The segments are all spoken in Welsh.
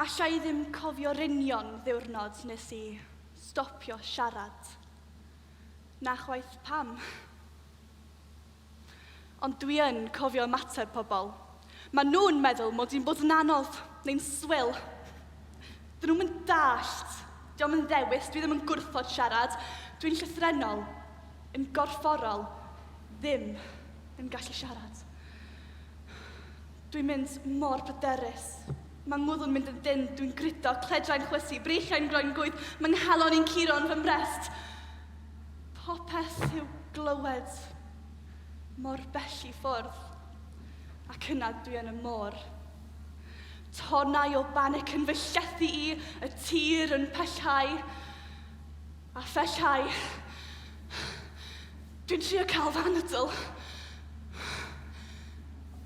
Alla i ddim cofio'r union ddiwrnod nes i stopio siarad. Na chwaith pam. Ond dwi yn cofio ymateb pobl. Mae nhw'n meddwl mod i'n bod yn anodd, neu'n swil. Dyn nhw'm yn dallt. Diolch yn ddewis, dwi ddim yn gwrthod siarad. Dwi'n llythrennol, yn gorfforol, ddim yn gallu siarad. Dwi'n mynd mor bryderus. Mae ngwddw'n mynd yn dynn, dwi'n grido, cledrai'n chwysu, breichiau'n groen gwydd, mae nghalon i'n curo yn fy mrest. Popeth i'w glywed mor bell i ffwrdd, ac yna dwi yn y môr. Tonnau o banic yn fy llethu i, y tir yn pellhau, a phellhau. Dwi'n trio cael fy anadl,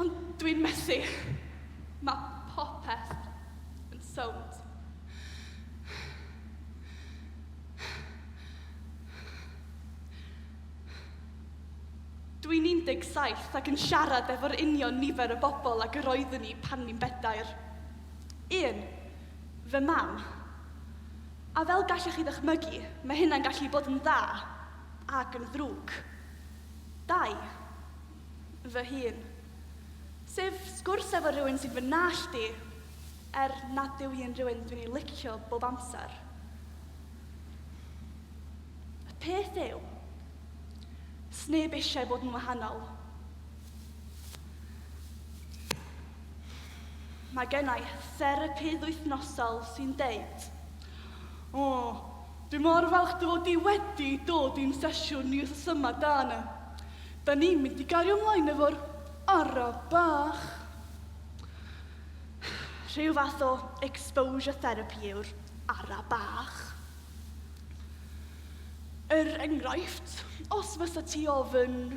ond dwi'n methu. Mae popeth yn sownd. Dw i'n 17 ac yn siarad efo'r union nifer o bobl ag yr oeddwn i pan o'n i'n bedair. Un, fy mam. A fel gallech chi ddychmygu, mae hynna'n gallu bod yn dda ac yn ddrwg. Dau, fy hun. Sef sgwrs efo rhywun sy'n fy nallt i, er nad yw hi'n rhywun dwi'n ei licio bob amser. Y peth yw, sneb eisiau bod yn wahanol. Mae gennau therapydd wythnosol sy'n deud, O, dwi mor falch dy fod i wedi dod i'n sesiwn ni wrth yma, dan. Da ni'n mynd i gario ymlaen efo'r ara bach. Rhyw fath o exposure therapy yw'r Ara bach. Er enghraifft, os fysa ti ofyn,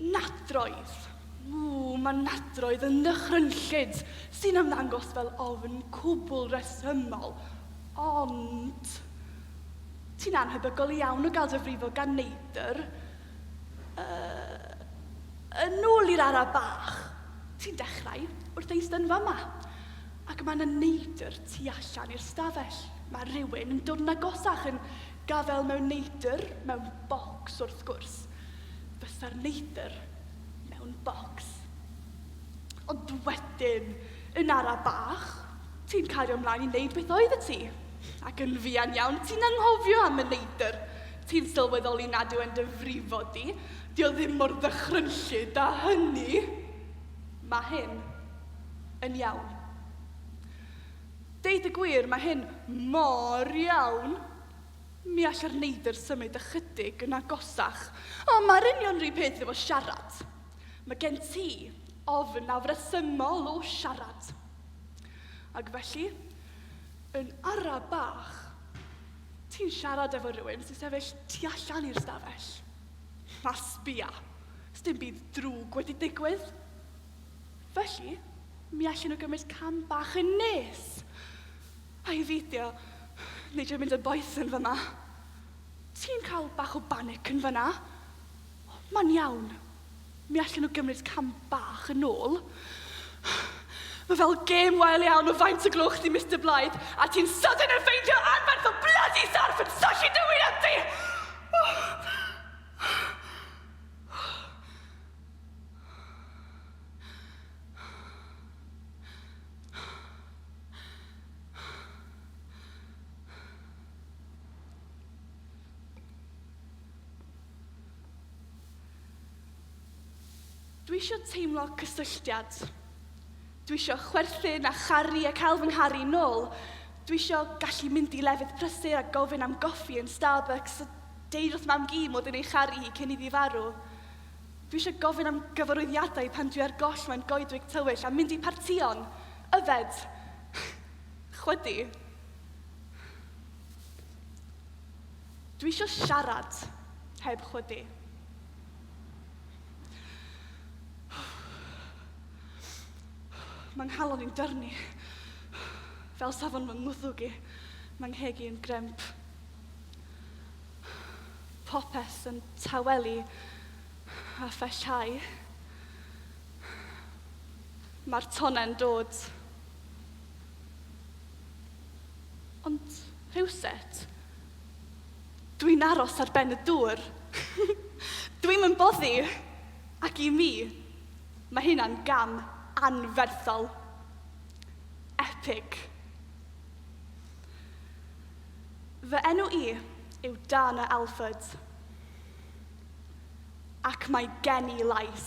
Nadroedd. Ww, mae nadroedd yn ddychrynllyd, sy'n ymddangos fel ofn cwbl resymol. Ond, ti'n anhebygol iawn o gael dy frifo gan neidr. Yy, yn ôl i'r ara bach, ti'n dechrau wrth eistedd yn fama. Ac mae 'na neidr tu allan i'r stafell. Mae rhywun yn dod yn agosach, yn gafael mewn neidr, mewn bocs wrth gwrs. Fysa'r neidr mewn bocs. Ond wedyn, yn ara bach, ti'n cario mlaen i wneud beth oeddet ti. Ac yn fuan iawn, ti'n anghofio am y neidr. Ti'n sylweddoli nad yw e'n dy frifo di. 'Di o ddim mor ddychrynllyd â hynny. Mae hyn. yn iawn. Deud y gwir, mae hyn mor iawn, mi allai'r neidr symud ychydig yn agosach. O, mae'r union rhy peth efo siarad. Mae gen ti ofn afresymol o siarad. Ac felly, yn ara bach, ti'n siarad efo rhywun sy'n sefyll tu allan i'r stafell. A sbia, sdim byd drwg wedi digwydd. Felly, mi allen nhw gymryd cam bach yn nes. A i feidio, neu drio mynd yn boeth yn fyma. Ti'n cael bach o banic yn fyna? Mae'n iawn. Mi allen nhw gymryd cam bach yn ôl. Mae fel gêm wael iawn o faint y gloch di, Mr Blythe, a ti'n sydyn yn ffeindio anferth o bloody sarff yn syllu dy wyneb di! Dwi eisiau teimlo cysylltiad. Dwi eisiau chwerthin a charu a cael fy ngharu nôl. Dwi eisiau gallu mynd i lefydd prysur a gofyn am goffi yn Starbucks a deud wrth mam-gu mod i'n ei charu hi cyn iddi farw. Dwi eisiau gofyn am gyfarwyddiadau pan dwi ar goll mewn goedwig tywyll a mynd i partïon. Yfed. Chwydu. Dwi eisiau siarad heb chwydu. Mae nghalon i'n dyrnu. Fel safon fy ngwddwg i. Mae ngheg i yn gremp. Popeth yn tawelu a phellhau. Mae'r tonnau'n dod. Ond rhywset, dwi'n aros ar ben y dŵr. Dwi'm yn boddi. Ac i mi, mae hynna'n gam anferthol. Epig. Fy enw i yw Dana Elford, ac mae gen i lais.